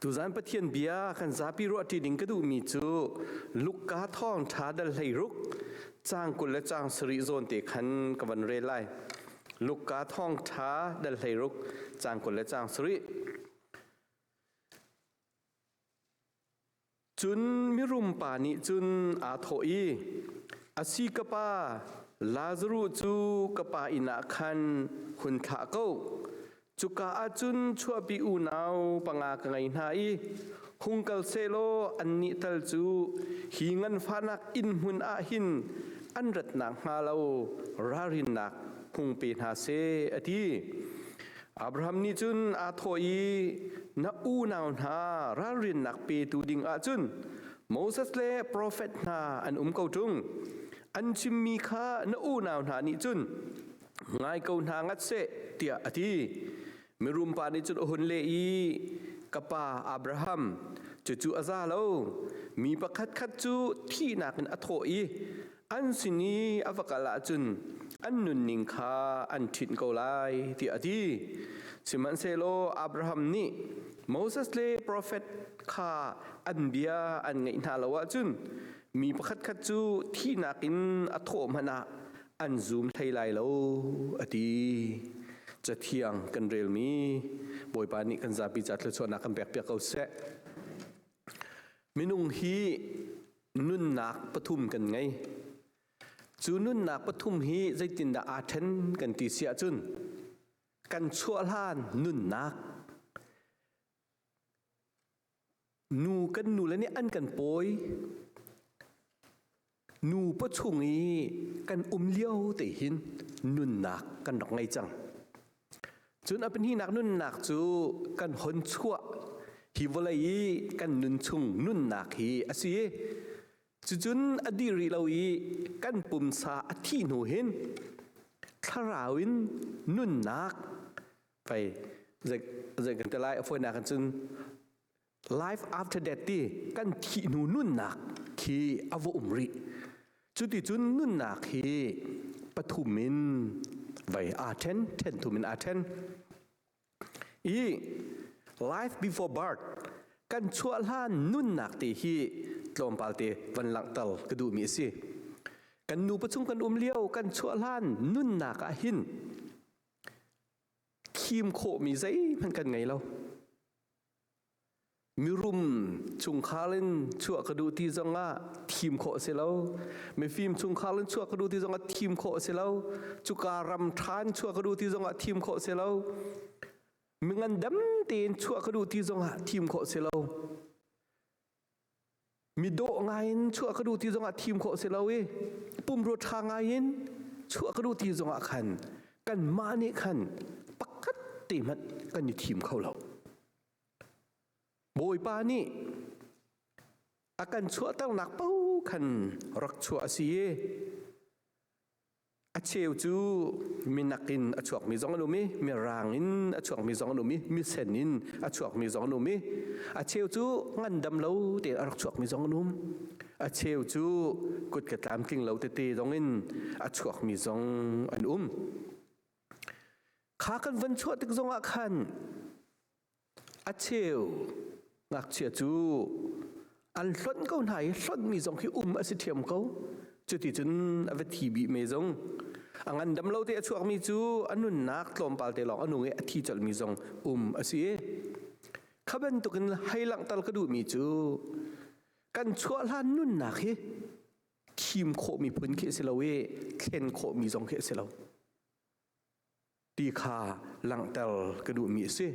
Tuzan Pathian bia kan zapi ruahṭi ding ka duhmi cu Luka thawngṭha dal hlei ruk cang kul le cang sarih zawn te khan ka van rel lai. Luka thawngṭha dal hlei ruk cang kul le cang sarih. Cun mirum pa nih cun aa thawh i, A si ka pa, Lazaruh cu ka pa inn ah khan hun thlah ko. Cuka ah cun chuahpi unau panga ka ngei hna i hung kal sehlaw annih tal cu hi nganfahnak inn hmun ah hin an rat nakhnga lo ralrinnak hung pe hna seh, a ti. Abraham nih cun aa thawh i, Na unau hna ralrinnak petu dingah cun Moses le profet hna an um ko ṭung. An chimmi kha na unau hna nih cun ngai ko hna ngat seh, tiah a ti. Mirum pa nih cun a hun leh i, Ka pa Abraham, cucu a za lo. Mi pakhatkhat cu thihnak in a thawh i, an sin i a va kal ahcun an nunning kha an ṭhinh ko lai tiah a ti sihmanhsehlaw Abraham nih Moses le profet kha an bia an ngaih hna lo ahcun mi pakhatkhat cu thihnak in a thawh hmanh ah an zum hlei lai lo a ti cathiang kan relmi bawipa nih kan zapi ca thluachuahnak kan pekpiak ko seh minung hi nunnak pathum kan ngei. Cu nunnak pathum hi zeitindah aa ṭhen kan ti si ahcun kan chuah hlan nunnak nu kan nule nih an kan pawi nu pa chung i kan um lio te hin nunnak kan rak ngei cang Cun a pahnihnak nunnak cu kan hon chuah hi vawlei i kan nun chung nunnak hi a si i cucun a dih rih lo i kan pumsa a thih hnu hin thlarau in nunnak pei zei kan ti lai a fawinak in cun Life after death ti kan thih hnu nunnak khi a va um rih. Cuti cun nunnak hi pathum in vai aa ṭhen, ṭhen thum in aa ṭhen. I life before birth kan chuah hlan nunnak te hi tlawmpal te van langhter ka duhmi a si. Kan nupa chung kan um lio kan chuah hlan nunnak ah hin khim khawhmi zeihmanh kan ngei lo. Mirum chungkhar in chuah ka duh ti zongah thim khawh a si lo. Mifim chungkhar in chuah ka duh ti zongah thim khawh a si lo. Cuka ram ṭha in chuah ka duh ti zongah thim khawh a si lo. Mingandam tein chuah ka duh ti zongah thim khawh a si lo. Mi dawh ngaiin chuah ka duh ti zongah thim khawh si lo i pumrua ṭha ngaiin chuah ka duh ti zongah khan kanmah nih khan pakhat te hmanh kan i thim kho lo. Bawipa nih a kan chuahternak paoh khan rak chuah a si i A cheu cu minak in a chuakmi zong an um i mirang in a chuakmi zong an um i misen in a chuakmi zong an um i a cheu cu ngandam lo tein a rak chuakmi zong an um. A cheu cu kut ka tlamtling lo tete zong in a chuakmi zong an um. Kha kan van chuah tik zongah khan A cheu ngakchia cu an hlonh ko hna i hlonhmi zong khi um a si ṭhiam ko. Cuticun a va thi bih me zong. A ngandam lo te a chuakmi cu a nunnak tlawmpal te lawng a nung i a thi colhmi zong um a si i kha bantukin hei langhter ka duhmi cu kan chuah hlan nunnak hi thim khawhmi phun khi a si lo i thlen khawhmi zong khi a si lo. ti kha langhter ka duhmi a si.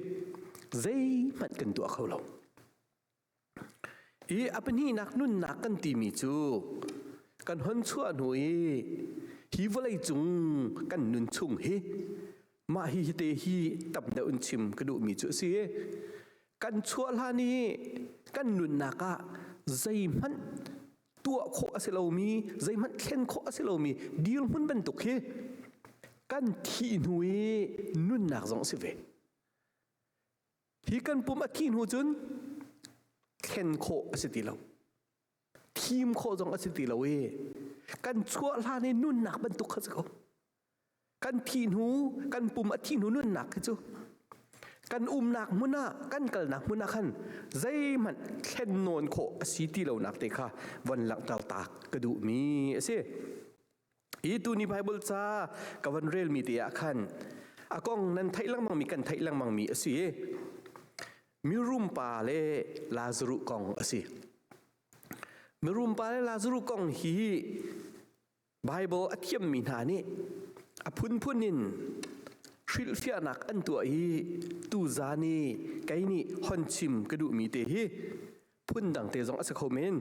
Zeihmanh kan tuah kho lo. I a pahnihnak nunnak kan timi cu kan hon chuah hnu i hi vawlei cung kan nun chung hi mah hi te hi tam deuh in chim ka duhmi cu a si kan chuah hlan i kan nunnak ah zeihmanh tuah khawh a si lomi zeihmanh thlen khawh a si lomi dirhmun bantuk hi kan thih hnu i nunnak zong a si ve hi kan pum a thih hnu cun thlen khawh a si ti lo thim khawh zong a si ti lo i kan chuah hlan i nunnak bantuk kha si ko kan thih hnu kan pum a thih hnu nunnak khi cu kan umnak hmun ah kan kalnak hmun ah khan zeihmanh thlen nawn khawh a si ti lonak te kha von langhter tak ka duhmi a si hi tuni bible ca ka von relmi te ah khan a kong nan theih lengmang mi kan theih lengmang mi a si mirum pa le lazaru kong a si mirum pa le lazaru kong hi Baibal a thiammi hna nih a phunphun in hrilhfiahnak an tuah i tuza ni kei nih hon chim ka duhmi te hi phundang te zong a si kho men.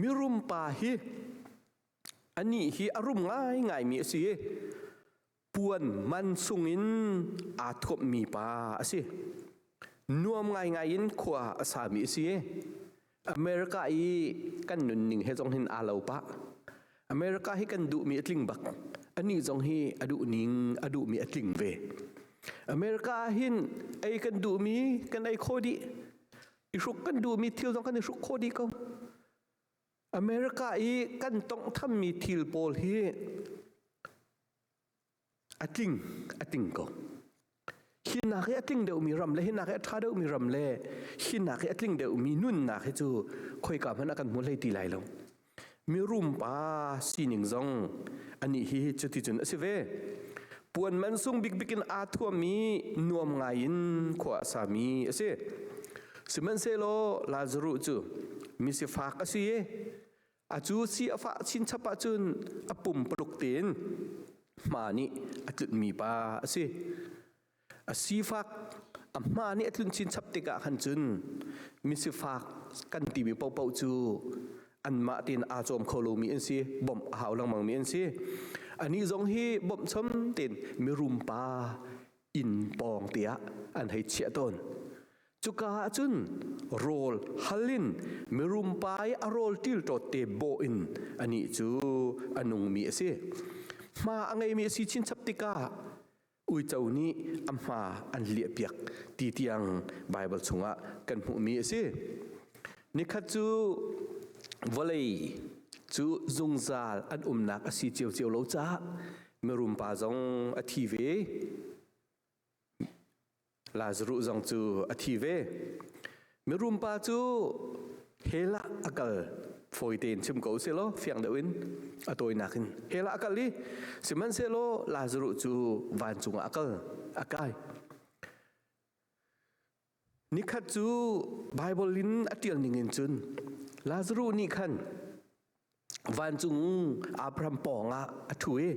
Mirum pa hi anih hi a rum ngaingaimi a si i puan man sungin aa thuammi pa a si nuam ngaingai in khua a sami a si america i kan nunning he zong hin aa lo pah america hi kan duhmi a tling bak anih zong hi a duh ning a duhmi a tling ve america hin ei kan duhmi kan ei kho dih i hruk kan duhmi thil zong kan i hruk kho dih ko America i kan tonghthammi thil pawl hi a tling a tling ko. Hi nak hi a tling deuhmi ram le hi nak hi a ṭha deuhmi ram le hi nak hi a tling deuhmi nunnak hi cu khoika hmanh ah kan hmu hlei ti lai lo. Mirum pa sining zong ani hi cuti cun a si ve. Puan mansung bikbik in aa thuami nuam ngai in khua a sami a si. Sihmanhsehlaw Lazaruh cu misifak a si i a cu si a fah chinchap ahcun a pum paluk tein hma nih a tlunmi pa a si. A sifak a hma nih a tlun chinchap tikah khan cun misifak kan timi paohpaoh cu anmah tein aa cawm kho lomi an si bawmh a hau lengmangmi an si anih zong hi bawmh chom tein mirum pa inn pawng tiah an hei chiah tawn cuka ah cun rawl hal in mirum pai a rawl til ṭawt te bawh in anih cu a nungmi a si hma a ngeimi a si chinchap tikah uico nih a hma an liahpiak ti tiang Baibal chungah kan hmuhmi a si nikhat cu vawlei cu zungzal an umnak a si ciocio lo caah mirum pa zong a thi ve Lazarus zong cu a thi ve mirum pa cu hela akal fawi tein chim ko selaw fiang deuh in a tawinak in hela akal i sihmanhsehlaw Lazarus cu vancung ah akal akai Nikhat cu Baibal in a ṭial ningin cun Lazaruh nih khan vancung Abraham pawngah a ṭhu i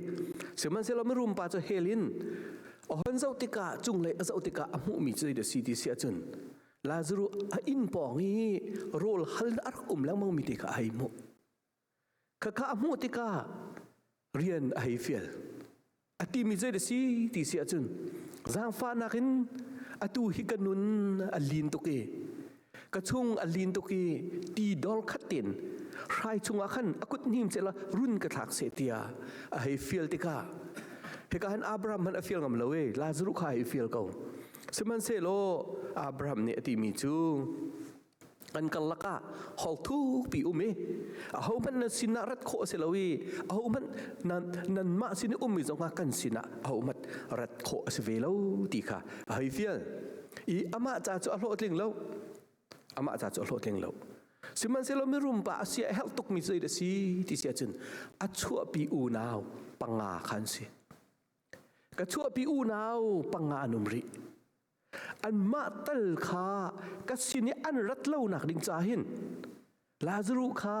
sihmanhsehlaw mirum pa cu hell in ohon zoh tikah cunglei a zoh tikah a hmuhmi cu zeidah a si ti si ahcun Lazaruh a inn pawng i rawl hal a rak um lengmangmi te kha a hei hmuh. Khakha a hmuh tikah rian a hei fial. A timi zei da si ti si ahcun zaangfahnak in atu hi ka nun a lin tuk i ka chung a lin tuk i ti dor khat tein hrai chungah khan a kut hnim cela run ka thlak se tia a hei fial tikah hika han Abraham han a fial ngam lo e Lazaru kha a hei fial ko sihmanhsehlaw Abraham nih a timi cu an karlak ah hawkthu pi um i ahohmanh nan sin ah rat khawh a si lo i ahohmanh nan nanmah sin i ummi zong kan sin ah ahohmanh rat khawh a si ve lo ti kha a hei fial i amah ca cu a hlawhtling lo amah ca cu a hlawhtling lo sihmanhsehlaw mirum pa a sia a herh tukmi cu a si ti si ahcun a chuahpi unau panga kha an si ka chuahpi unau panga an um rih anmah tal kha ka sin i an rat lonak ding ca hin Lazaruh kha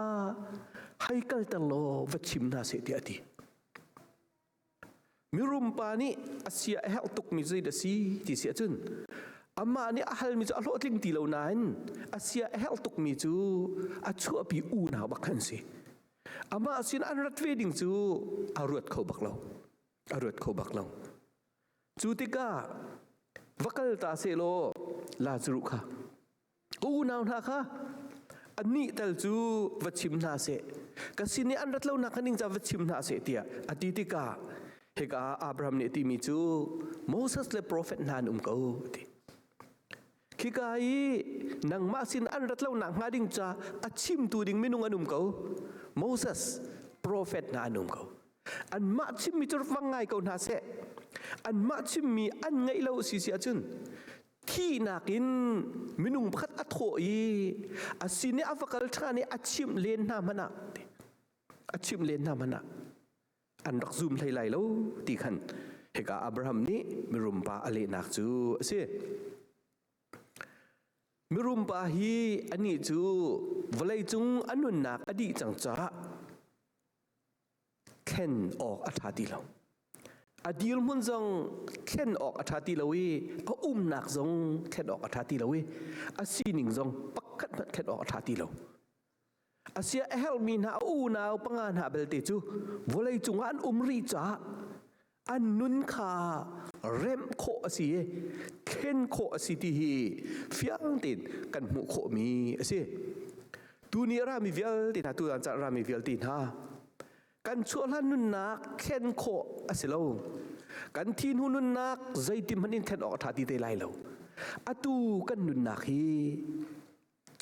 hei kalter law va chim hna seh tiah a ti. Mirum pa nih a sia a herh tukmi zei da si ti si ahcun amah nih a halmi cu a hlawhtling ti lo nain a sia a herh tukmi cu a chuahpi unau bak an si. Amah sin an rat ve ding cu a ruat kho bak lo. A ruat kho bak lo. Cu tikah va kal ta sehlaw Lazaruh kha, unau hna kha anih tal cu va chim hna seh, ka sin i an rat lonak kha ningcang va chim hna seh tiah a ti tikah hika ah Abraham nih a timi cu Moses le profet hna an um ko a ti. khika i nangmah sin an rat lonak hnga ding ca a chimtu ding minung an um ko moses profet hna an um ko anmah chimmi cu fang ngai ko hna seh anmah chimmi an ngaih lo si si ahcun thihnak in minung pakhat a thawh i a sin i a va kal ṭhan i a chimh len hna hmanah a chimh len hna hmanah an rak zum hlei lai lo ti khan hika Abraham nih mirum pa a lehnak cu a si. Mirum pa hi anih cu vawleicung a nunnak a dih cang caah thlen awk a ṭha ti lo. A dirhmun zong thlen awk a ṭha ti lo i a umnak zong thlen awk a ṭha ti lo i a sining zong pakhat hmanh thlen awk a ṭha ti lo. Asia a herhmi hna a unau panga hna belte cu vawlei cungah an um rih caah an nun kha remh khawh a si i thlen khawh a si ti hi fiang tein kan hmuh khawhmi a si. Tuni rami vialte hna, tutan caan rami vialte hna, kan chuahhlan nunnak thlen khawh a si lo. Kan thinhu nunnak zeitin hmanh in thlen awk a ṭha ti te lai lo. Atu kan nunnak hi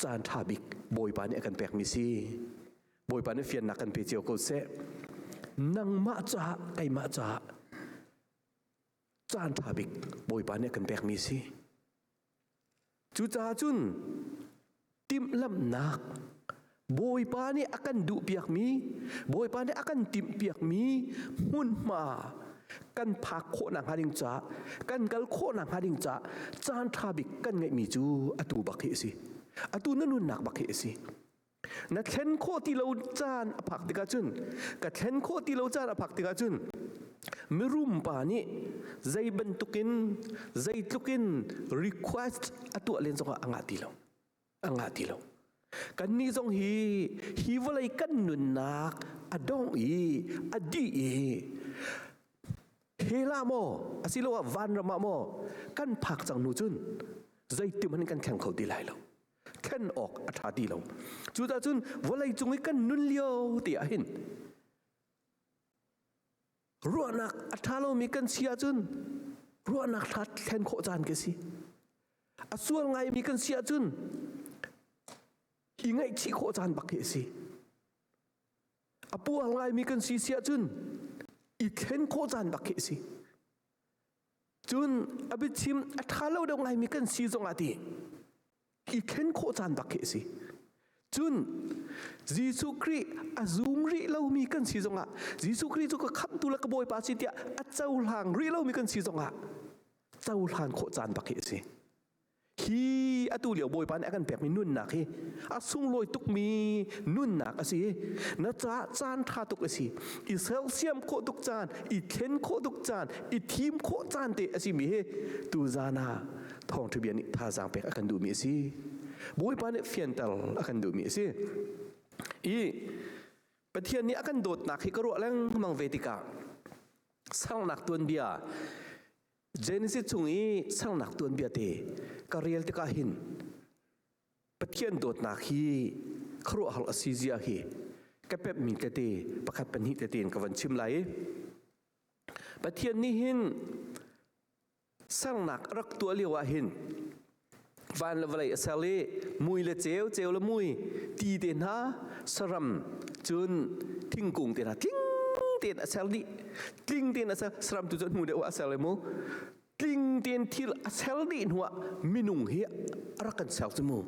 caan ṭha bik Bawipa nih a kan pekmi si. Bawipa nih fiannak kan pe cio ko seh. Nangmah caah, keimah caah caan ṭha bik Bawipa nih a kan pekmi si. Cucaah cun timhlamhnak Bawipa nih a kan duhpiakmi, Bawipa nih a kan timhpiakmi hmunhma kan phak khawh nakhnga ding caah kan kal khawh nakhnga ding caah caan ṭha bik kan ngeihmi cu atu bak hi a si atu na nunnak bak hi a si na thlen khawh ti lo caan a phak tikah cun ka thlen khawh ti lo caan a phak tikah cun mirum pa nih zei bantukin zeitluk in request a tuah len zongah a ngah ti lo a ngah ti lo kannih zong hi hi vawlei kan nunnak a dong i a dih i hela maw asiloah vanram ah maw kan phak cang hnu cun zeitim han kan thleng kho ti lai lo thlen awk a ṭha ti lo cu cun vawlei cung i kan nun lio ti ah hin ruahnak a ṭha lomi kan si ahcun ruahnak hla thlen khawh caan ka si a sual ngaimi kan si ahcun hi ngaihchih khawh caan bak hi a si a pual ngaimi kan si si ahcun i thlen khawh caan bak hi a si Cun a biachim a ṭha lo deuh ngaimi kan si zongah tih i ken khawh caan bak khi a si. Cun Jesuh Khrih a zum rih lomi kan si zongah Jesuh Khrih cu ka khamhtu le ka Bawipa si tiah a cohlang rih lomi kan si zongah cohlan khawh caan bak khi a si. hi atu lio bawipa nih a kan pekmi nunnak hi a sunglawi tukmi nunnak a si i na ca caan ṭha tuk a si i sersiam khawh tuk caan i thlen khawh tuk caan i thim khawh caan te a simi hi tuzan ah thawngṭha bia nih thazaang pek a kan duhmi a si bawipa nih fianter a kan duhmi a si i pathian nih a kan dawtnak hi ka ruah lengmang ve tikah sernak tuanbia Genesis chung i sernak tuanbia te ka rel tikah hin Pathian dawtnak hi khuaruahhar a si zia hi ka pep mi tete pakhat pahnih tete in ka van chim lai i Pathian nih hin sernak a rak tuah lio ah hin van le vawlei a ser i mui le ceu ceu le mui ti te hna saram cun thingkung te hna tling tein a ser dih tling tein a ser saram tu cu hnu deuh a ser le mu tling tein thil a ser dih hnuah minung hi a rak kan ser cu mu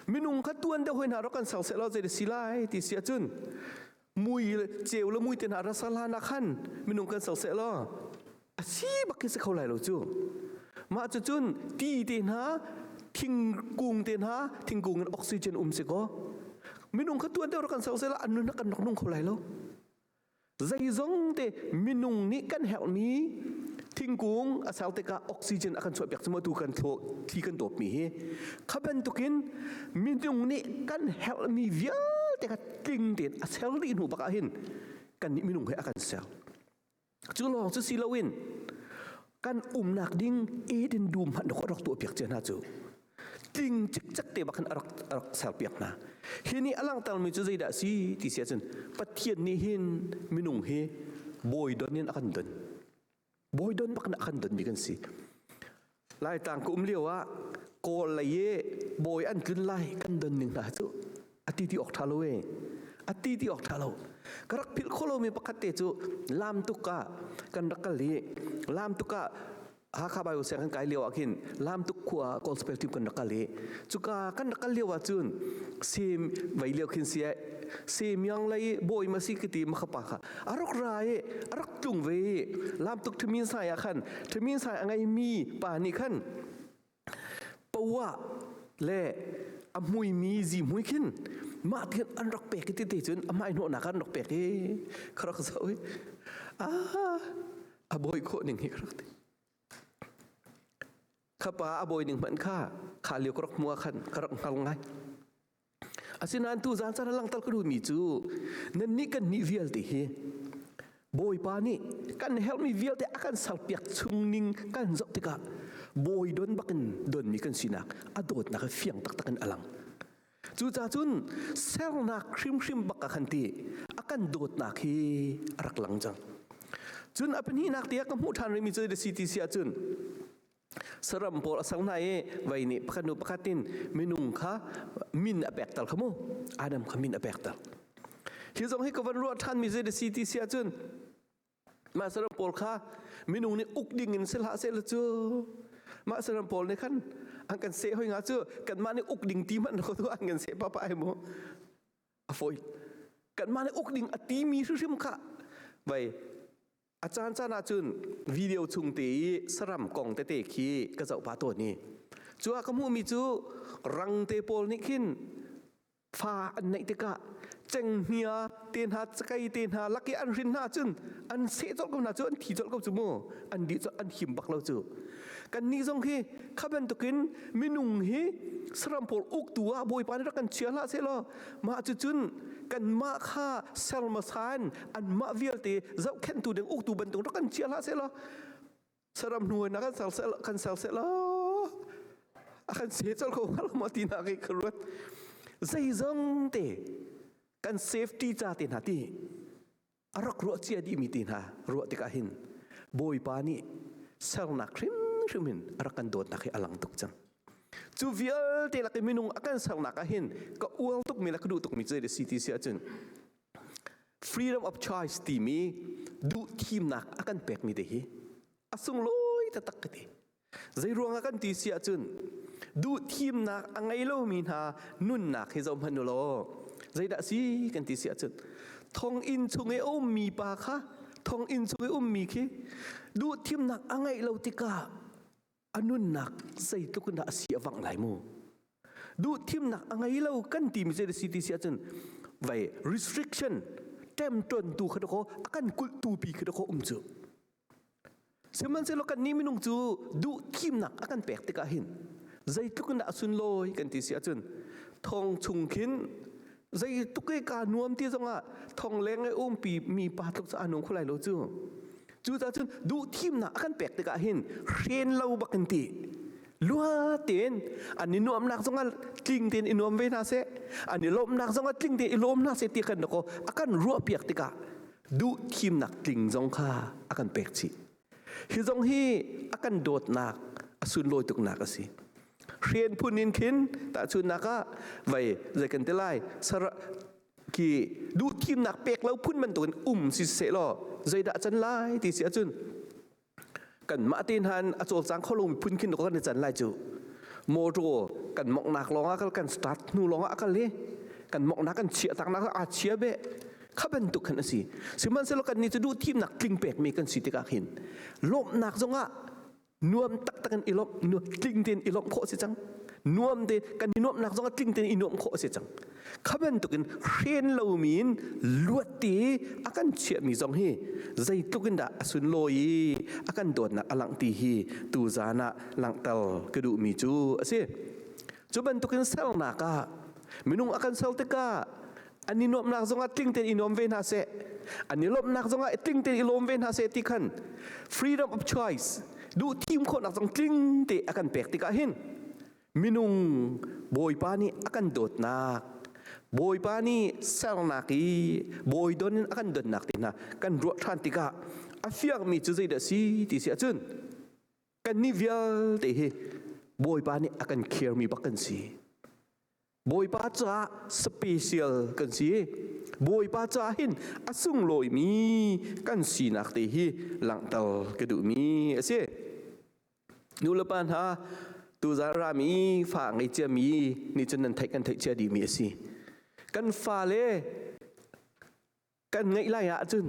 minung kha tuan deuh hoi hna rak kan sang se lo zei de si lai ti si ahcun mui ceu le mui te hna rasar hlan ah khan minung kan sang se lo a si bak khi si kho lai lo cu mah cu cun ti te hna thingkung te hna thingkung in oxygen um si ko minung kha tuan deuh rak kan sang se lo an nun kan nok nung kho lai lo zeizong te minung nih kan herhmi thingkung a sau tikah oxygen a kan chuahpiak cuma tu kan thli kan dawpmi hi kha bantukin minung nih kan herhmi vialte kha tling tein a ser dih hnu bakah hin kan nih minung he a kan ser cu lawng cu si loin kan umnak ding eden dum han rak rak tuah piak cia hna cu tling cikcek te bak khan arak arak ser piak hna hi ni alang mi cu zeidah si ti sia cun pathian nih hin minung hi bawi don in akan don bawi don bak akan don mi kan si lai tang ku um lio ah kawl lei i bawi an tlun lai kan don ning hna cu a ti ti awk ṭha lo e a ti ti awk ṭha lo ka rak philh khawh lomi pakhat te cu lam tuk ah kan rak kal i lam tuk ah Hakha Bible sianginn kai lio ah khin Lamtuk khua ah gospel team kan rak kal i cuka kan rak kal lio ah cun sim vei lio khin si sim yang lei bawi ma si kiti ma khapa kha a rak ra i a rak tlung ve i Lamtuk ṭhimin sai ah khan ṭhimin sai a ngei mi pa nih khan poah le a hmuimi zihmui khin mah tihin an rak pek i tete cun amah i hnawhnak ah an rak pek i ka rak zoh i ah a bawi khawh ning hi ka rak ti khapa a bawi ning hmanh kha kha lio ka rak hmuh ah khan ka rak hngal ngai Asinain tuzaan caan ah langhter ka duhmi cu nannih kan nih vialte hi Bawipa nih kan herhmi vialte a kan serpiak chungning kan zoh tikah bawi don bakin donmi kan sinak a dawtnak he fiang taktak in a lang. Cucaah cun sernak hrimhrim bak a kan ti a kan dawtnak hi a rak lang cang. Cun a pahnihnak te ka hmuh ṭhan rihmi cu si ti si ahcun saram pawl a sang hna i vei nih pakhat nu pakhat in minung kha min a pek tal kha mu adam kha min a pek tal hi zong hi ka van ruah ṭhan mi zei si ti si ahcun mah saram pawl kha minung nih uk ding in sel ha se cu mah saram pawl nih khan an kan seh hoi nga cu kanmah nih uk ding ti hmanh ko tu an kan seh papa ai mu a foi kanmah nih uk ding a ti mi hrim kha vei A caan caan ahcun video chung te i saram kong tete khi ka zoh pah tawn i cu ah ka hmuhmi cu rang te pawl nih khin fa an neih tikah cenghngia te hna cakei te hna lak i an hrin hna cun an seh colh ko hna cu an thi colh ko cu mu an di an him bak lo cu kan nih zong hi kha bantukin minung hi saram pawl uk tu ah bawipa nih rak kan chia hlah seh law mah cucun kanmah kha ser masan anmah vialte zohkhenhtu ding uktu bantuk rak kan chia hlah seh law saram hnuainak kan ser seh kan ser seh law a kan se col ko hnga ma ti na kai ka ruat zeizong te kan safety ca te na ti a rak ruah cia dihmi te hna ruah tikah hin bawipa nih sernak hrimhrim in a rak kan dawtnak hi a lang tuk cang cu vialte lak i minung a kan sernak ah hin ka ual tukmi le ka duh tukmi cu si ti si ahcun freedom of choice timi duh thimnak a kan pekmi te hi a sunglawi taktak ka ti Zeiruang ah kan ti si ahcun duhthimnak a ngei lomi hna nunnak hi zoh hmanh u law zeidah si kan ti si ahcun thonginn chung i a ummi pa kha thonginn chung i ummi khi duhthimnak a ngeih lo tikah a nunnak zeitluk in dah a si a vang lai mu duhthimnak a ngei lo kan timi zei si ti si ahcun vei restriction temton tu kha dakaw a kan kulh tu pi kha dakaw um cu Sihmanhsehlaw kannih minung cu duhthimnak a kan pek tikah hin zeitluk in dah a sunlawi kan ti si ahcun thong chung khin zeitluk i kaa nuam ti zongah thong leng i umpi mi pa tluk cu aa nuam kho lai lo cu. Cucaah cun duhthimnak a kan pek tikah hin hren lo bak in ti luha tein an i nuamnak zongah tling tein i nuam ve hna seh, an i lawmhnak zongah tling tein i lawm hna seh ti kan rak a kan ruahpiak tikah duhthimnak tling zong kha a kan pek chih hi zong hi a kan dawtnak a sunlawi tuknak a si hren phun in khin tahchunnak ah vai zei kan te lai sar ki duhthimnak pek lo phun bantukin um si se law zeidah can lai ti si ahcun kanmah te hna in a cawlcang kho lo miphun khin kan i can lai cu motor kan moknak lawngah kal kan start hnu lawngah kal i kan moknak kan chia taknak aa chia be kha bantuk khan asi sihmanhsehlaw kan ni cu duh thimnak tling pekmi kan si tikah khin lawmhnak zongah nuam taktak in ilawm tling ten ilawm khawh si cang nuam te kan i nuamnak zongah tling ten i nuam khawh si cang kha bantukin hren lomi in luatti i a kan chiahmi zong hi zeitluk in dah a sunlawi i a kan dawtnak a langh ti hi tu zan ah langhter ka duhmi cu a si cu bantukin sernak ah minung a kan ser tikah an i nuamhnak zongah tling tein i nuam ve hna seh an i lawmhnak zongah i tling tein i lawm ve hna seh ti khan freedom of choice duh thim khawhnak zong tling te a kan pek tikah hin minung bawipa nih a kan dawtnak bawipa nih sernak i bawi don in a kan donnak te hna kan ruah ṭhan tikah a fiangmi cu zeidah si ti si ahcun kan nih vialte hi bawipa nih a kan khirmi bak kan si Bawipa caah special kan si i Bawipa caah hin a sunglawimi kan sinak te hi langhter ka duhmi a si. Nulepa hna, tuzar rami fa ngei ciami nih cun nan theih kan theih cia dihmi a si. Kan fale kan ngeih lai ahcun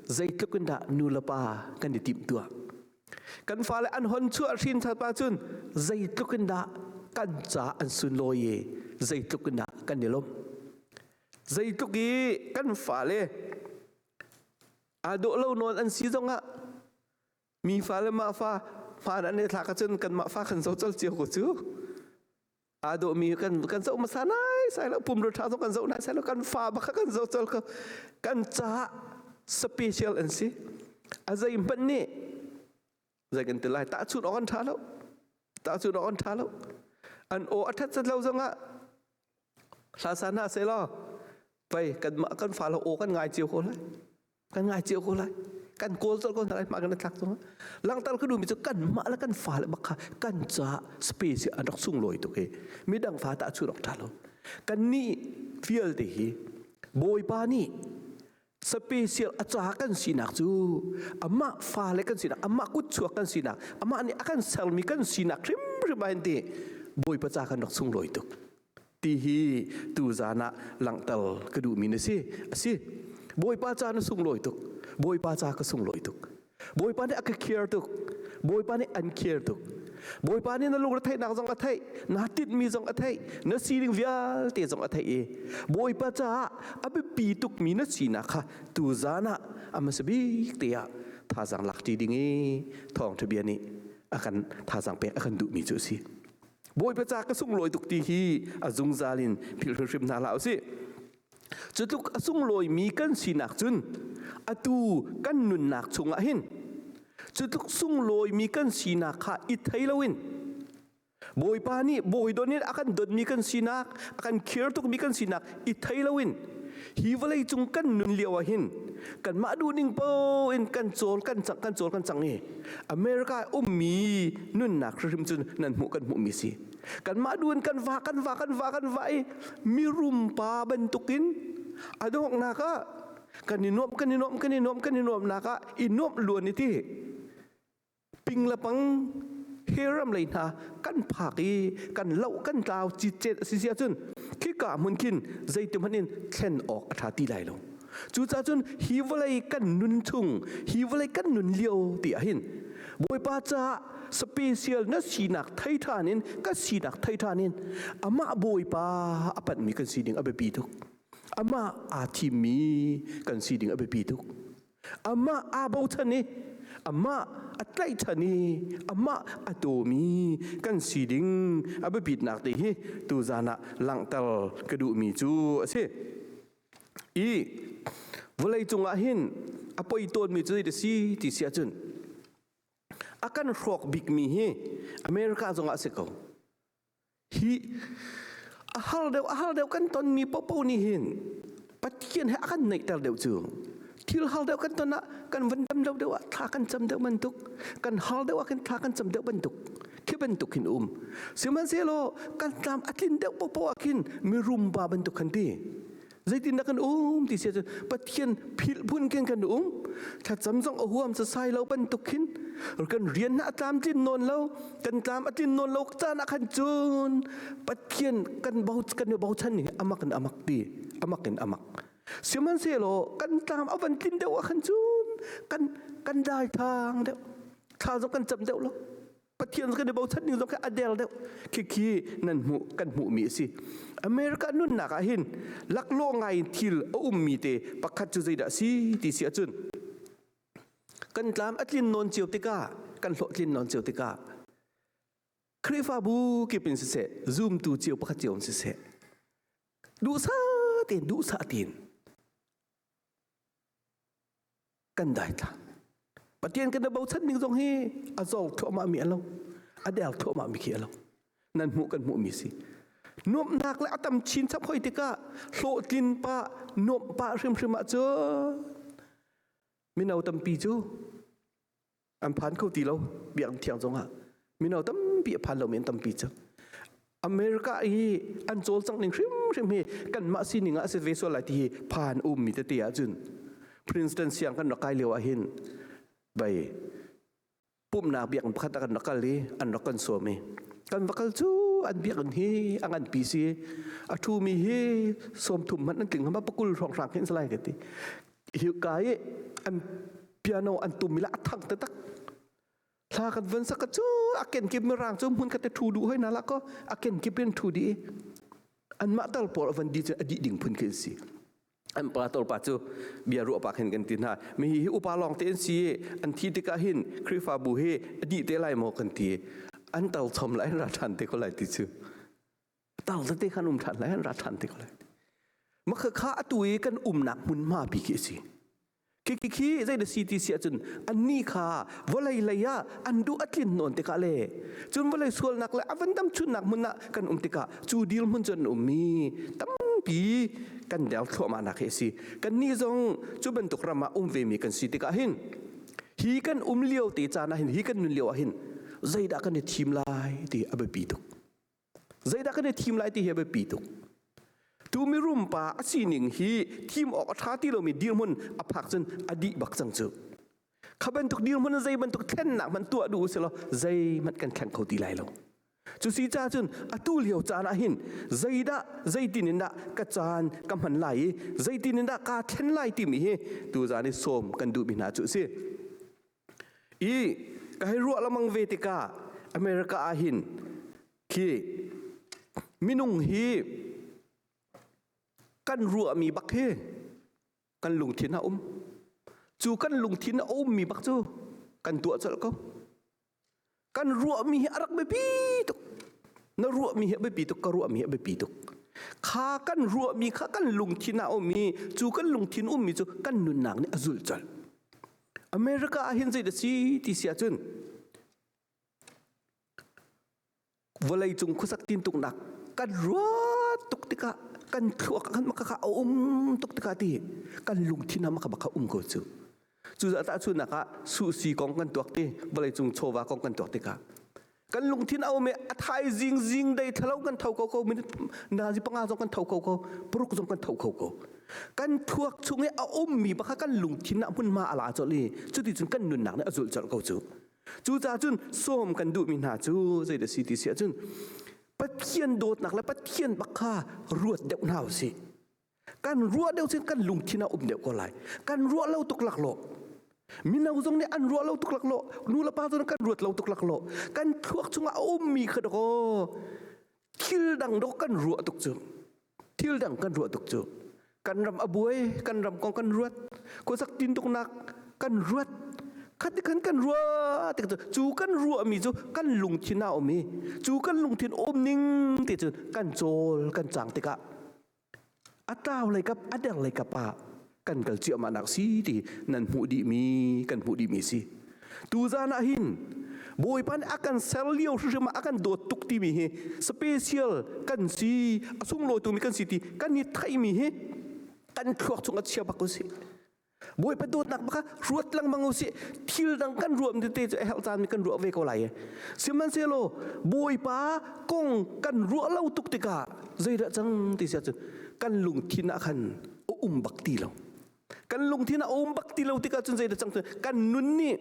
zeitluk in dah nulepa kan i timtuah kan fale an hon chuah hrin thapa cun zeitluk in dah kan ca an sunlawi i zeitluk in dah kan i lawmh zeitluk i kan fale aa dawh lo nawn an si zongah Mi fa le mah fa hmaan an i thlak ahcun kanmah fa kan zo col cio ko cu. Aa dawh mi kan kan zoh hmasa nai sai lo pumrul ṭha zong kan zoh nai sai lo kan fa baka kan zo col ko kan ca special an si. A zei hmanh nih zei kan ti lai tahchun awk an ṭha lo tahchun awk an ṭha lo an aw a ṭhat lo zongah hla san hna seh law pei kanmah kan fa lo aw kan ngai cio ko lai kan ngai cio ko lai kan kawl col ko lai mah kan tlak tung langtar ku mi chu kan mah la kan fa le bakha kan cha space an rak sung loi tu ke midang fa ta chu rak ta lo kan ni fiel te hi bawipa ni special a ca kan sinak cu amah fale kan sinak amah kutchuak kan sinak amah nih a kan sermi kan sinak hrimhrim ah ti bawipa ca kan rak sunglawi tuk ti hi tu zan ah langhter ka duhmi na si a si bawipa ca na sunglawi tuk bawipa ca ka sunglawi tuk Bawipa nih a ka care tuk. Bawipa nih an care tuk. Bawipa nih na lungretheihnak zong a theih, na tinhmi zong a theih, na sining vialte zong a theih i Bawipa caah a biapi tukmi na sinak kha tu zan ah a hmasa bik te ah thazang lakṭi ding i thawngṭha bia nih a kan thazang pek a kan duhmi cu a si. Bawipa ca ka sunglawi tuk ti hi a zungzal in philh hrimhrim hna hlah u sih. Cutluk a sunglawimi kan sinak cun atu kan nunnak chungah hin cutluk sunglawimi kan sinak kha i thei loin Bawipa nih bawi don in a kan donmi kan sinak a kan khir tukmi kan sinak i thei loin hi vawlei cung kan nun lio ah hin kanmah duhning paoh in kan cawl kan cang kan cawl kan cang i America i ummi nunnak hrim cun nan hmuh kan hmuhmi si kanmah duan kan va kan va kan va kan va i mirum pa bantukin a donghnak ah kan i nuam kan i nuam kan i nuam kan i nuamnak ah i nuam luan i ti ping le pang heram lei hna kan phak i kan lo kan tlau cit cet a si sia cun khika hmun khin zeitim hman in thlen awk a tha ti lai lo Cucaah cun hi vawlei kan nun chung hi vawlei kan nun lio ti ahhin Bawipa caah special na sinak thei ṭhan in kan sinak thei ṭhan in amah Bawipa a panhmi kan sining a biapi tuk. Amah aa thimmi kan sining a biapi tuk. Amah aa bochan i amah a tlaihchan i amah a tawmi kan sining a biapitnak te hi tuzan ah langhter ka duhmi cu a si. i vawlei cungah hin a poi tawnmi cu zeidah si ti si ahcun a kan hrawk bikmi hi America zongah a si ko hi a har deuh a har deuh kan tonmi popo nih hin Pathian he a kan neihter deuh cu thil hal deuh kan ton ah kan van dam deuh deuh ah thla kan cam deuh bantuk kan hal deuh ah kan thla kan cam deuh bantuk khi bantuk hin um sihmanhsehlaw kan tlam a tlin deuh popo ah khin mirum ba bantuk kan ti zeitin da kan um ti sia pathian phil bun ken kan um tha cham zong a huam sa sai lo bantuk khin kan rian na tlam tlin non lo kan tlam a tlin non lo ta na khan chun pathian kan bau kan bau chan ni amak in amak ti amakin amak sihmanhsehlaw kan tlam a van tlin deuh ah khan cun kan kan dai thang deuh thla zong kan cam deuh lo pathian kan i bochan ning zong a del deuh khi khi nan hmu kan hmuh mi a si america nunnak ah hin laklawh ngai in thil a um mi te pakhat cu zeidah si ti si ahcun kan tlam a tlin non cio tikah kan hlawh tlin non cio tikah Khrihfabu kip in siseh, zumtu cio pakhat cio in siseh, duhsah tein, duhsah tein kan daithlang. Pathian kan bochan ning zong hi a zol thluahmah mi a lo, a der thluahmah mi khi a lo. Nan hmuh kan hmuh mi si. Nuamhnak le a tam chin chap hoi tikah hlawhtlin pa, nuamh pa hrimhrim ah cu mino tampi cu an phan kho ti lo biang thiang zongah mino tampi a phan lomi an tampi cang america hi an cawl cang ning hrimhrim hi kan mah sining ah a si ve sual lai ti hi phan ummi tete ahcun princeton siang kan rak kai lio ahhin bai pumnak biakinn pakhat ah kan rak kal i an rak kan sawm i kan va kal cu an biakinn hi a ngan pi si a ṭhumi hi sawm thum hmanh an tling hama pakul hrawng hrang hin salai ka ti hika i an piano an tum ila a thang taktak thla kan van sak chu a ken kip mi rang chu mun kate thu du hoi na la ko a ken kip in thu di an ma tal por van di adi ding phun ke si an pa tol pa chu bia ru pa khen kan tin ha mi hi upa long te si an thi tika hin krifa bu hi adi te lai mo kan ti an tal chom lai ra than te ko lai ti chu Tauzat te khan um ṭhan lai, ra ṭhan te ko lai. Makha kha atu i kan umnak hmunhma bik hi a si. Khi khi zei da si ti si ahcun anni kha vawlei lei ah an duh a tlin nawn tikah le cun vawlei sualnak le a van dam chunnak hmun ah kan um tikah cu dirhmun cu an um i tampi kan der thluahmahnak hi a si. Kannih zong cu bantuk ram ah um vemi kan si tikah hin hi kan um lio te caan ah hin hi kan nun lio ah hin zeidah kan i thim lai ti a biapi tuk. zeidah kan i thim lai ti hi a biapi tuk tu mirum pa a sining hi thim awk a ṭha ti lomi dirhmun a phak cun a dih bak cang cu kha bantuk dirhmun zei bantuk thlennak hman tuah duh usihlaw zeihmanh kan thleng kho ti lai lo cu si ca cun atu lio caan ah hin zeidah zeitin in dah ka caan ka hman lai i zeitin in dah kaa thlen lai timi hi tu zan i sawm kan duhmi hna cu a si I ka hei ruah lamang ve tikah America ah hin khi minung hi kan ruahmi bak hi kan lungthin a um. Cu kan lungthin a ummi bak cu kan tuah colh ko. kan ruahmi hi a rak biapi tuk na ruahmi hi a biapi tuk ka ruahmi hi a biapi tuk kha kan ruahmi kha kan lungthin ah um i cu kan lungthin ummi cu kan nunnak nih a zul colh America ah hin zei da si ti si ahcun vawleicung khuasak tin tuknak kan ruat tuk tikah kan thluak kan makaka a um tuk tikah ti kan lungthin ha maka maka um ko cu cu za ta chu nakah susi kong kan tuak ti vawleicung chawva kong kan tuak tikah kan lungthin a um i a thai zing zing dei thalo kan tho ko ko minute na zi panga zong kan tho ko ko puruk zong kan tho ko ko kan thuak chung i a um mi baka kan lungthin na hmun ma ala chol i cuti cun kan nunnak ne azul chol ko chu Cucaah cun sawm kan duhmi hna cu zei da si ti si ahcun Pathian dawtnak le Pathian bak kha ruat deuh hna u sih. Kan ruah deuh sin kan lungthin a um deuh ko lai. Kan ruah lo tuk lak lo. Mino zong nih an ruah lo tuk lak lo. Nu le pa zong kan ruat lo tuk lak lo. Kan thluak chungah a ummi kha dakaw thil dang dok kan ruah tuk cu thil dang kan ruah tuk cu kan ram a buai kan ram kong kan ruat khuasak tin tuk nak kan ruat khat khan kan rua te cu cu kan rua mi cu kan lungthin a um i cu kan lungthin om ning te cu kan chawl kan chang tikah a tau lei kap a deng lei kap ah kan kal ciahmah nak si ti nan hmuh dih mi kan hmuh dih mi si tu zan ah hin bawipan a kan ser lio hrim a kan dawt tuk ti mi hi special kan si a sunglawi tu mi kan si ti kan ni thai mi hi kan thluak chung a chia bak ko si Bawipa dawtnak baka ruat lengmang usih thil dang kan ruam tete cu ehel caan mi kan ruah ve ko lai sihmanhsehlaw bawipa kong kan ruah lo tuk tikah zeidah cang ti sia cu kan lungthin ah khan um bak ti lo kan lungthin ah um bak ti lo tikah cun zeidah cang kan nun nih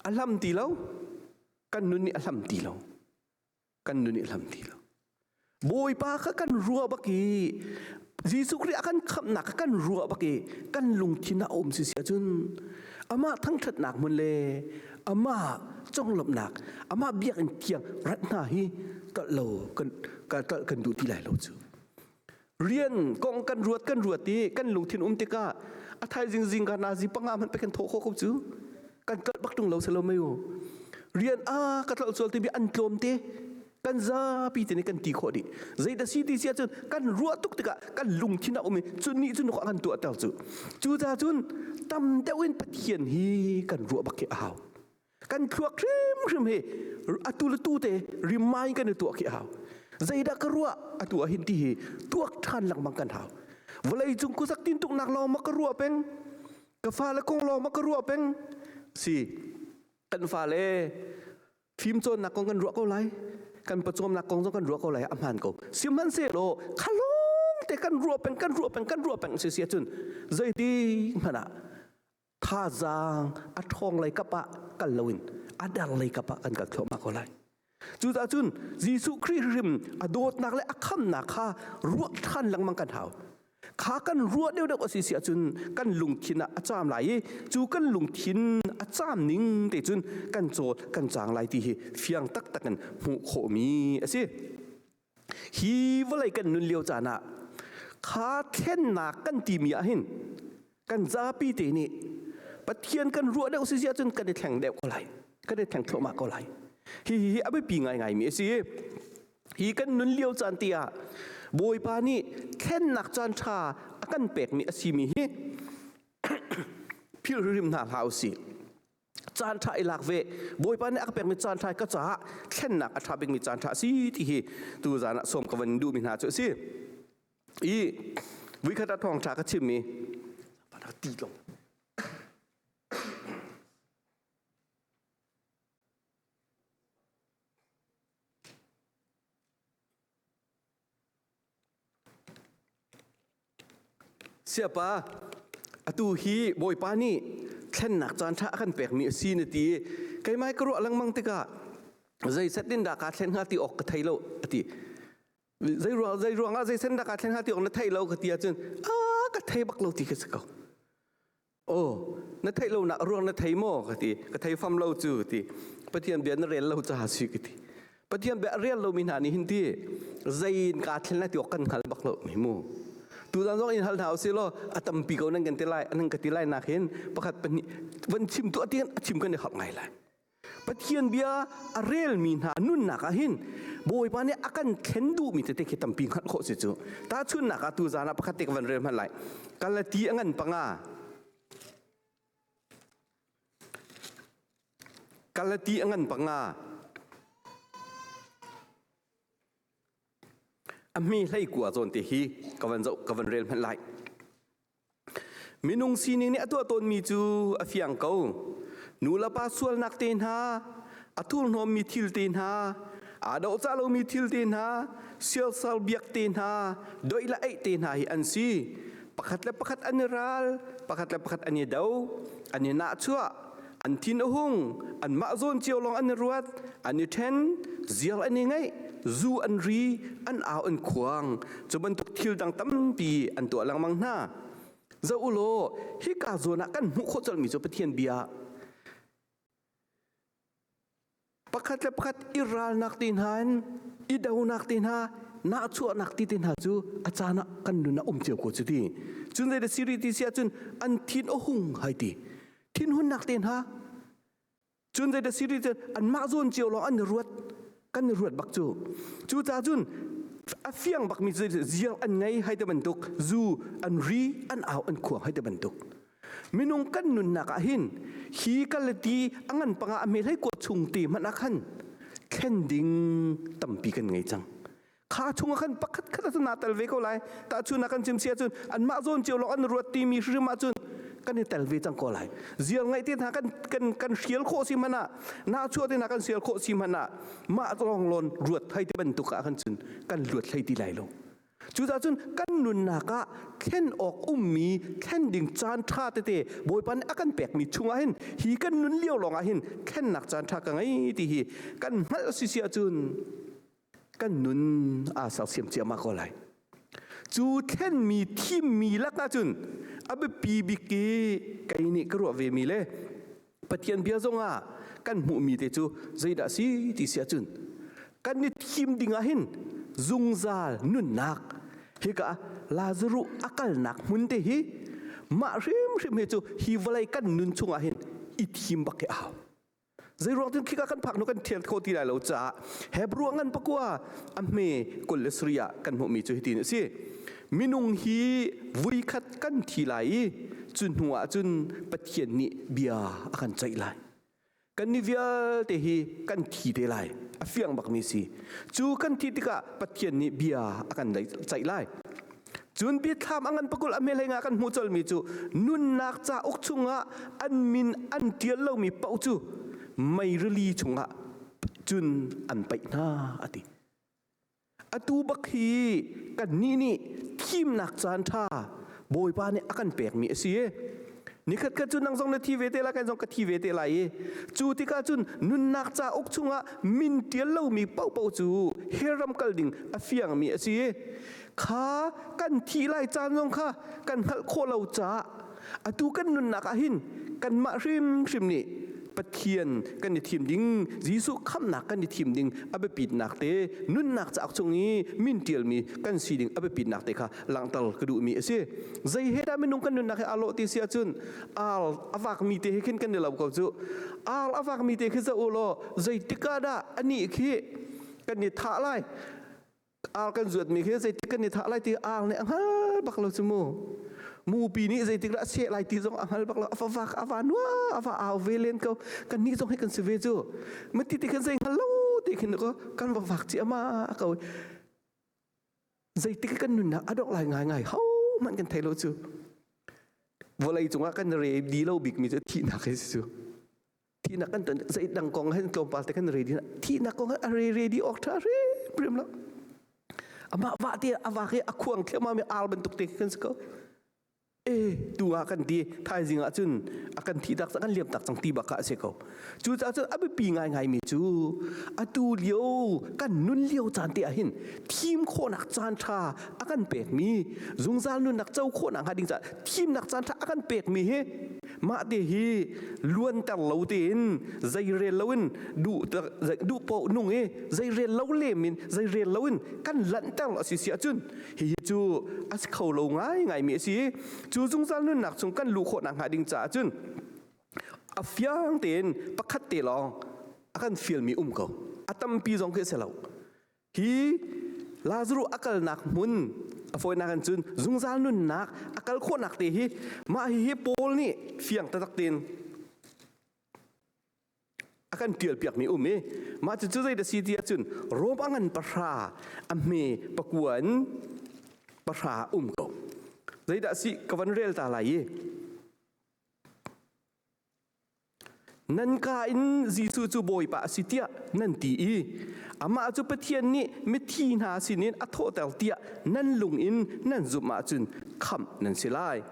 a hlam ti lo kan nun nih a hlam ti lo kan nun i hlam ti lo bawipa kha kan rua bak i Jesuh Khrih a kan khamhnak kha kan rua bak i kan lungthin a um si si ahcun amah thangṭhatnak hmun le amah conglawmhnak amah biakinn thiang rat hna hi kalh lo kan kan kan duh ti lai lo cu rian kong kan ruat kan ruat i kan lungthin um tikah a thaizing zingka nazi panga man pekin thawh khawh ko cu kan kalh bak tung lo selo mai u rian a ka tlau chual ti bi an tlom te kan zapi te ne kan ti khawh di zeita CDC ah cun kan ruah tuk tikah kan lungthin a um i cun ni cun khawh kan tuah ter cu cu ta cun tam deuh in pathian hi kan ruah bak ke a hau kan thluak hrimhrim hi atu le tu te remind kan tu khi hau zeidah ka ruah atu a hin ti hi tuak than langmang kan hau vlei cung ku sak tin tuk nak lo ma ka ruah peng ka fa le kong lo ma ka ruah peng si kan fa le phim chon nak kong kan ruah ko lai kan pachom nak kong zo kan ruah ko lai amhan ko siman se lo khalong te kan ruah peng kan ruah peng kan ruah peng si sia chun zeiti mana thazaang a ṭhawng lei kap ah kal loin a der lei kap ah kan kal thluahmah ko lai cucaah cun Jesuh Khrih hrim a dawtnak le a khamnak kha ruah ṭhan lengmang kan hau kha kan ruah deuh deuh a si si ahcun kan lungthin ah a caam lai i cu kan lungthin a caam ning te cun kan caw kan cang lai ti hi fiang taktak in hmuh khawhmi a si hi vawlei kan nun lio caan ah kha thlennak kan timi ah hin kan zapi te nih Pathian kan ruah deuh si ahcun kan i thleng deuh ko lai kan i thleng thluahmah ko lai hi hi hi a biapi ngaingaimi a si hi kan nun lio caan ti ah Bawipa nih thlennak caan ṭha a kan pekmi a simi hi philhrim hna hlah u sih caan ṭha i lak ve bawipa nih a ka pekmi caan ṭha ka caah thlennak a ṭha bikmi caan ṭha a si ti hi tu zan ah sawm ka van duhmi hna cu a si i voikhat ah thawng ṭha ka chimmi van ka ti tlong Siapa, atu hi Bawipa nih thlennak caanṭha a kan pekmi a si na ti i keimah ka ruah lengmang tikah zei set in dah kaa thlen hnga ti awk ka thei lo a ti. Zei ruang, zei ruangah zei sen dah kaa thlen hnga ti awk na theih lo ka ti ahcun a ka thei bak lo ti ka si ko. Aw, na theih lo nak ruang na thei maw ka ti. Ka thei fam lo cu ti. Pathian bia na rel lo ca si ka ti. Pathian bia rel lo mi hna nih hin ti zei in ka thlen la ti kan hngal bak lo mi mu. Tu zan zong in hal hna usih law a tampi ko nan kan ti lai nan ka ti lai nak hin pakhat pahnih van chim tu a ti a chim kan i hap ngai lai. Pathian bia a relmi hna nunnak ah hin Bawipa nih a kan thlen duhmi tete khi tampi hngalh khawh si cu. Tahchunnak ah tu zan ah pakhat te ka van rel hmanh lai. Galati a ngan panga. Galati a ngan panga. A hme hlei kua zawn te hi ka van zoh ka van rel hmanh lai. Minung sining nih a tuah tawnmi cu a fiang ko. Nulepa sualnak te hna, a thurhnawmmi thil te hna, aa dohcah lomi thil te hna, siasal biak te hna, doih le eih te hna hi an si. Pakhat le pakhat an i ral, pakhat le pakhat an i do, an i nahchuah, an thin a hung anmah zawn cio lawng an i ruat an i ṭhen ziar an i ngaih zu an ri an au an khuang cu bantuk thil dang tampi an tuah lengmang hna za u law hika zawn ah kan hmuh khawh colmi cu Pathian bia Pakhat le pakhat i ralnak te hna in i donak te hna nahchuahnak ti te hna cu a caan ah kan nun a um cio ko cu ti cun zei da siri ti si ahcun an thin a hung hai ti thin hunnak te hna cun zei da siri cun anmah zawn cio lawng an i ruat kan i ruat bak cu cu ca cun a fiang bakmi cu ziang an ngei hai te bantuk zu an ri an au an khuang hai te bantuk minung kan nunnak ah hin hi kalati a ngan panga a mehlei kuat chung te hmanh ah khan thlen ding tampi kan ngei cang kha chungah khan pakhat khat cu naa tel ve ko lai tahchun kan chim sia cun anmah zawn cio lawng an ruat timi hrim ah cun kan i tel ve cang ko lai ziar ngaih te hna kan kan kan hrial khawh si hmana na chuah te hna kan sial khawh si hmana mah zong lon ruat thai te bantuk ah khan cun kan luat hlei ti lai lo Cucaah cun kan nunnak ah thlen awk ummi thlen ding caan ṭha tete Bawipa nih a kan pekmi chungah hin hi kan nun lio lawngah hin thlennak caan ṭha ka ngei ti hi kan hngalh a si si ahcun kan nun aa sersiam ciama ko lai. Cu thlenmi thimmi lakah cun a biapi bik i kei nih ka ruah vemi le Pathian bia zongah kan hmuhmi te cu zeidah si ti si ahcun kan i thim dingah hin zungzal nunnak hika Lazaruh a kalnak hmun te hi mah hrimhrim hi cu hi vawlei kan nun chungah hin i thim bak hi a hau zei ruang tin khika kan phak nu kan thial kho ti lai lo caah Hebrew ngan pakua a hme kul le suri ah kan hmuhmi cu hitin a si minung hi vuikhat kan thi lai i cu hnu ah cun Pathian nih bia a kan ceih lai kan ni vialte hi kan thi te lai a fiang bakmi si cu kan thi tikah Pathian nih bia a kan ceih lai cun biathlam a ngan pakul a meleng ah kan hmuh colmi cu nunnak ca uk chungah an min an tial lomi paoh cu meirili chungah cun an paih hna a ti Atu bak hi kannih nih thimnak caanṭha Bawipa nih a kan pekmi a si i nikhat khat cu nang zong na thi ve te lai kan zong ka thi ve te lai i cu tikah cun nunnak cauk chungah min ṭial lomi paohpaoh cu herram kal ding a fiangmi a si i kha kan thih lai caan zong kha kan hngalh khawh lo caah atu kan nunnak ah hin kanmah hrimhrim nih Pathian kan i thim ding Jesuh khamhnak kan i thim ding a biapitnak te nunnak cauk chung i min ṭialmi kan si ding a biapitnak te kha langhter ka duhmi a si zei he dah minung kan nunnak he aa lawh ti si ahcun ar a vakmi te he khin kan i lo ko cu ar a vakmi te khi zoh u law zeitik ah dah anih khi kan i thah lai ar kan zuatmi khi zeitik kan i thah lai ti ar nih a hngal bak lo cu mu mupi nih zeitik lah seh lai ti zong a hngal bak lo afa vak ava nua ava au ve len ko kan ni zong hei kan si ve cu mati ti khan zei hngal lo ti khin ko kan va vak ci ama ko zeitik kan nunna adok lai ngai ngai ho man kan thei lo cu volei cungah kan re di lo bikmi cu thihnak hei si cu Tina kan ton sai dang kong hen tlawmpal te kan radio tina kong a re radio ok tha re prim lo ama wa te awa ke akhuang thlema me al ban tuk te kan sako e tu a kan ti thai zinga chun akan thi tak kan liam tak chang ti baka se ko chu cha chu abi pi ngai ngai mi chu atu liu kan nun liu chan te ahin thim kho nak chan tha akan pek mi zungzal nun nak chau kho nak hading cha thim nak chan tha akan pek mi he mah te hi luanter lo tein zeirel loin duh duh po nung i zeirel lo lem in zeirel loin kan lanter a si si ahcun hihi cu a si kho lo ngai ngai mi a si cu zungzal nunnak chung kan luh khawh nak hnga ding caah cun a fiang tein pakhat te lawng a kan fial mi um ko a tampi zong khi a si lo Hi Lazarus a kalnak hmun a fawinak in cun zungzal nunnak a kal khawhnak te hi mah hihi Paul nih fiang taktak tein a kan ṭialpiakmi um i mah cucu zei da si ti ahcun Rom a ngan pahra a hme pakua in pahra um ko zeidah si ka van rel ta lai i Nan ka in Jesuh cu Bawipa a si tiah nan ti i amah cu Pathian nih mithi hna sinin a thawhter tiah nan lung in nan zumh ahcun khamh nan si lai.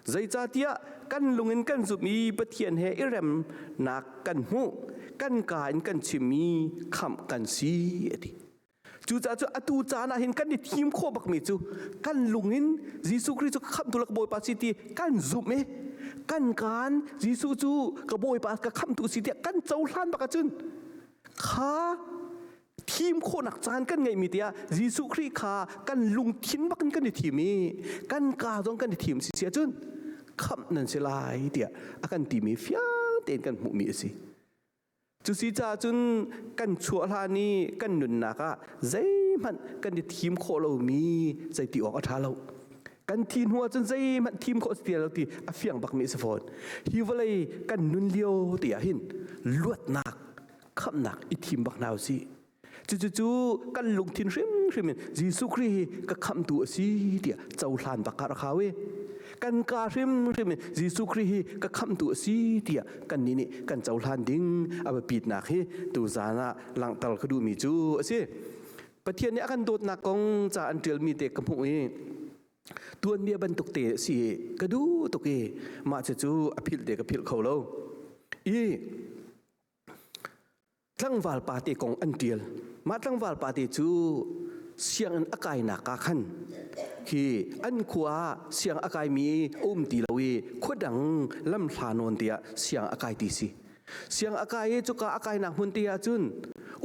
Zeicahtiah kan lung in kan zumh i Pathian he i remnak kan hmuh, kan ka in kan chim i khamh kan si a ti. Cucaah atu caan ah hin kan i thim khawh bakmi cu kan lung in Jesuh Khrih cu ka khamtu la ka Bawipa si ti kan zumh i kan kaan Jesuh cu ka Bawipa ka khamtu si tiah kan cohlan bak ahcun kha thim khawhnak caan kan ngeihmi tiah Jesuh Khrih kha kan lungthin bak in kan i thim i kan kaa zong kan i thim si si ahcun khamh nan si lai tiah a kan timi fiang tein kan hmuhmi a si. Cusi caah cun kan chuah hlan i kan nunnak ah zeihmanh kan i thim khawh lomi zeiti awk a ṭha lo. Kan thih hnu ahcun zeihmanh thim khawh a si ti lo ti a fiang bakmi a si fawn. Hi vawlei kan nun lio ti ahhin luatnak, khamhnak i thim bak hna u sih. Cucu kan lungthin hrimhrim in Jesuh Khrih hi ka khamtu a si tiah cohlan bak ka rak hau i kan ka hrimhrim in Jesuh Khrih hi ka khamtu a si tiah kannih nih kan cohlan ding a biapitnak hi tuzaan ah langhter ka duhmi cu a si. Pathian nih a kan dawtnak kong ca an ṭialmi te ka hmuh i tuanbia bantuk te a si ka duh tuk i mah cucu a philh te ka philh kho lo. I tlangval pate kong an tial mah tlangval pate cu sianginn a kainak ka khan hi an khua ah siang a kaimi um ti lo i khua dang lam hla nawn tiah siang a kai ti si siang a kai i cuka a kainak hmun te ah cun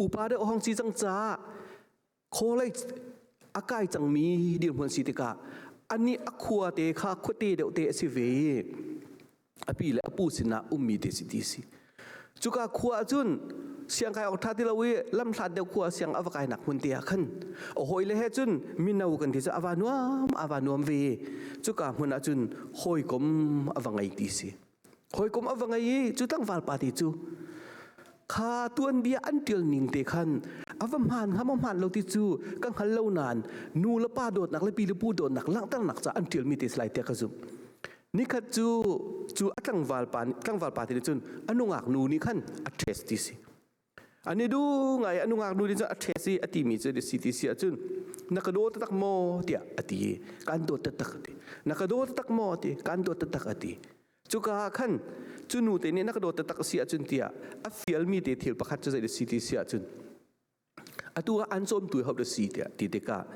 upa deuh hong si cang caah College a kai cangmi dirhmun si tikah anih a khua te kha khuate deuh te a si ve i api le apu sinah ummi te si ti si. Cuka khua ahcun siangkai awk ṭha ti lo i lamhlat deuh khua siang a va kainak hmun te ah khan a hawi le he cun mino kan ti cu a va nuam a va nuam ve i cuka hmun ah cun hawikom a va ngei ti si. Hawikom a va ngei i cu tlangval pa ti cu kha tuan bia an ṭial ning te khan a va hmaan ham a hmaan lo ti cu ka hngal lo nain nu le pa dawtnak le pi le pu dawtnak langhternak ca an ṭialmi te salai tiah ka zumh nikhat cu cu a tlangval pa nih tlangval pa te nih cun a nungak nu nih khan a ṭhest ti si An i duh ngai, anu ngaknu nih cun a ṭhe si a timi cu a si ti si ahcun na ka daw taktak maw tiah a ti i kaan dawt taktak a ti. Na ka daw taktak maw ti kaan dawt taktak a ti. Cuka ah khan cu nu te nih na ka daw taktak a si ahcun tiah a fialmi te thil pakhat cu zei a si ti si ahcun atu ah an cawmtu hodah a si tiah ti tikah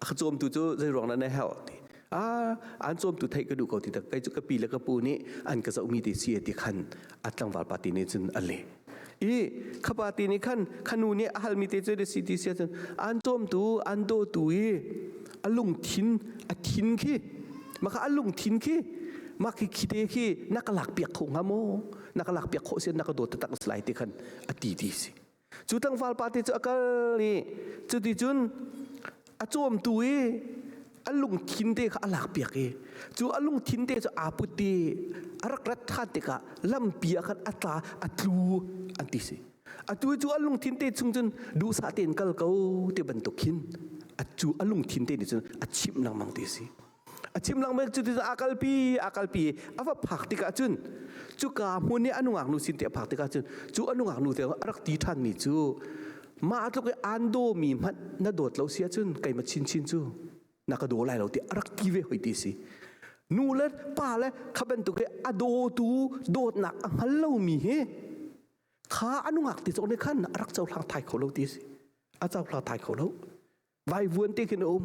a ka cawmtu cu zeiruang dah na herh ti ah an cawmtu theih ka duh ko ti tak kai cu ka pi le ka pu nih an ka zohmi ti si ti khan a tlangval party nih cun a leh i kha party nih khan khanu nih a halmi te cu si ti sia cun an cawmtu an dawtu i a lungthin a thin khi maka a lungthin khi mah khi khite khi na ka lak piak kho hnga maw na ka lak piak khawh sia na ka dawt tak slai te khan a ti ti si cu tlangval pa te cu a kal i cuticun a cawmtu i a lungthin te kha a lak piak i cu a lungthin te cu aa put i a rak rat ṭhan tikah lampi ah khan a tla a tlu an ti si atu i cu a lungthin te chung cun duhsah tein kal ko ti bantuk hin a cu a lungthin te nih cun a chimh lengmang ti si a chim lang mek cu ti a kalpi a kalpi a va phak tikah cun cuka hmun i a nungak nu sin ti a phak tikah cun cu a nungak nu te a rak ti ṭhan mi cu mah tluk i aan dawmi hmanh na dawt lo si ahcun keima chinchin cu na ka daw lai lo ti a rak ki ve hoi ti si nu le pa le kha bantuk hi a dawtu dawtnak a hngal lomi hi kha a nungak ti cawk nih khan a rak cohlang thai kho lo ti si a cohlang thai kho lo vaivuan te khin a um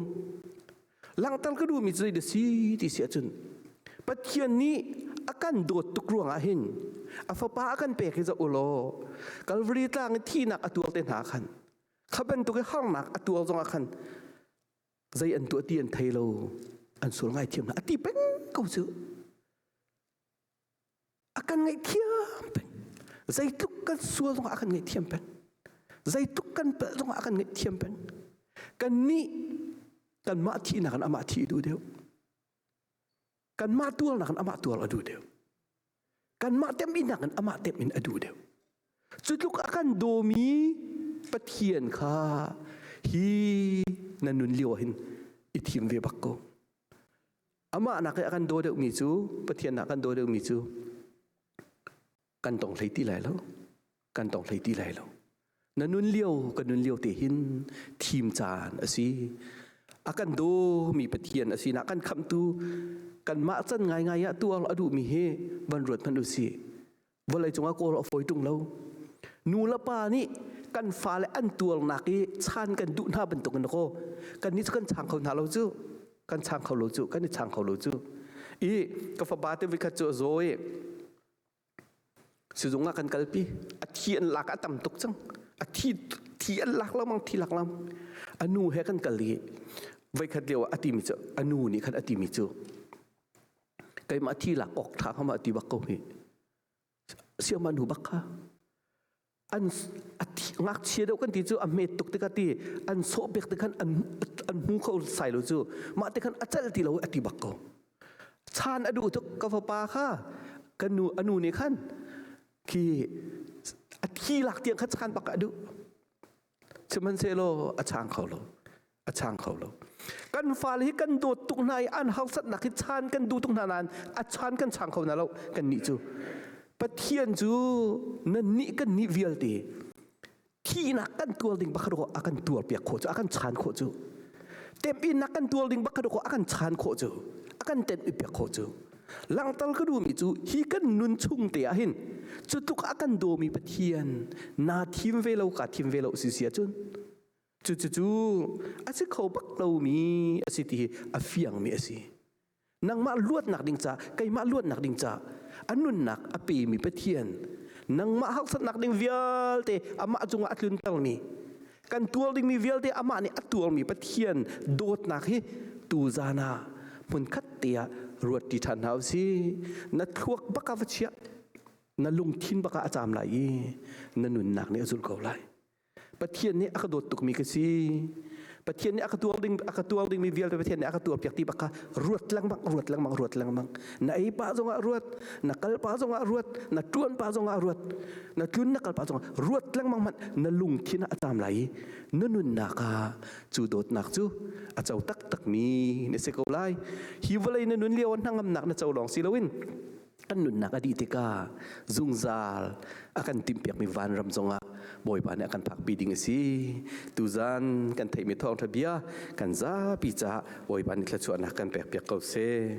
langtal ka duhmi cu da si ti si ahcun pathian nih a kan dawt tuk ruangah hin a fapa a kan pek hi za u law kalvari tlang i thihnak a tuar te hna khan kha bantuk i harnak a tuar zongah khan zei an tuah ti an thei lo an sual ngaithiam hna a ti peng ko cu A kan ngaihthiam peng. Zeitluk kan sual zongah a kan ngaihthiam peng. Zeitluk kan pelh zongah a kan ngaihthiam peng. Kannih kanmah thihnak in amah thih duh deuh. Kanmah tuarnak in amah tuar a duh deuh. Kanmah temhinnak in amah temhin a duh deuh. Cutluk a kan dawmi Pathian kha hi na nun lio hin i thim ve bak ko. Amah nak i a kan daw deuhmi cu Pathian nak kan daw deuhmi cu kan tong hlei ti lai lo kan tong hlei ti lai lo na nun lio ka nun lio te hin thim caan a si a kan dawmi pathian a sinak kan khamtu kanmah can ngaingai ah tuar a duhmi hi van ruat hmanh u si vawlei cungah kawl a fawi ṭung lo nu le pa nih kan fale an tuarnak i chan kan duh hna bantukin kaw kan ni kan chang kho hna lo cu kan chang kho lo cu kan i chang kho lo cu i ka fapa te vikhat cu a zaw i sizung ah kan kalpi a thi an lak a tam tuk cang a thi thi an lak lamang thi lak lam a nu he kan kal i voikhat lio a timi cu a nu nih khan a timi cu keimah thi lak awk tha kha mah ti bak ko hi siaman hu bak kha an ngakchia deuh kan ti cu a met tuk tikah ti an sawh pek te khan an an hmu kho sai lo cu mah te khan a chal ti lo a ti bak ko chan a duh tuk ka fapa kha kan nu anu ne khan ki a thi lak tiang kha chan bak a duh sihmanhsehlaw a chang kho lo a chang kho lo kan fale hi kan dawt tuk hna i an hausatnak hi chan kan duh tuk hna nain a chan kan chang kho hna lo kan nih cu pathian cu nan nih kan nih vialte thihnak kan tuar ding bakhat a kan tuar piak khawh cu a kan chan khawh cu temhinnak kan tuar ding bakhat a kan chan khawh cu a kan ten piak khawh cu Langtal ka duhmi cu hi kan nun chung te ah hin cu tluk a kan dawmi Pathian naa thim ve lo ka thim ve lo si si cun cucu a si kho bak lomi a si ti hi a fiangmi a si. Nangmah luatnak ding ca keimah luatnak ding ca a nunnak a pemi Pathian nangmah hausatnak ding vialte amah cungah a tluntermi kan tuar dingmi vialte amah nih a tuarmi Pathian dawtnak hi tu zan ah hmunkhat te ah ruat ṭi ṭhan hna u si na thluak baka va chiah na lungthin baka a cam lai i na nunnak nih a zulh ko lai Pathian nih a ka dawt tukmi ka si Pathian nih a ka tuar ding a ka tuar dingmi vialte Pathian nih a ka tuar piak ti baka ruat lengmang ruat lengmang ruat lengmang na ei pa zongah ruat na kal pa zongah ruat na tuan pa zongah ruat na tlun na kal pa zongah ruat lengmang hmanh na lungthin a tam lai na nunnak ah cu dawtnak cu a co taktak mi na si ko lai hi vawlei na nun lio hnangamnak na co lawng si loin kan nunnak a dih tikah zungzal a kan timpiak mi vanram zongah bawipa nih a kan phakpi ding a si tuzan kan theihmi thawngtha bia kan zapi caah bawipa nih thluachuahnak kan pek piak ko seh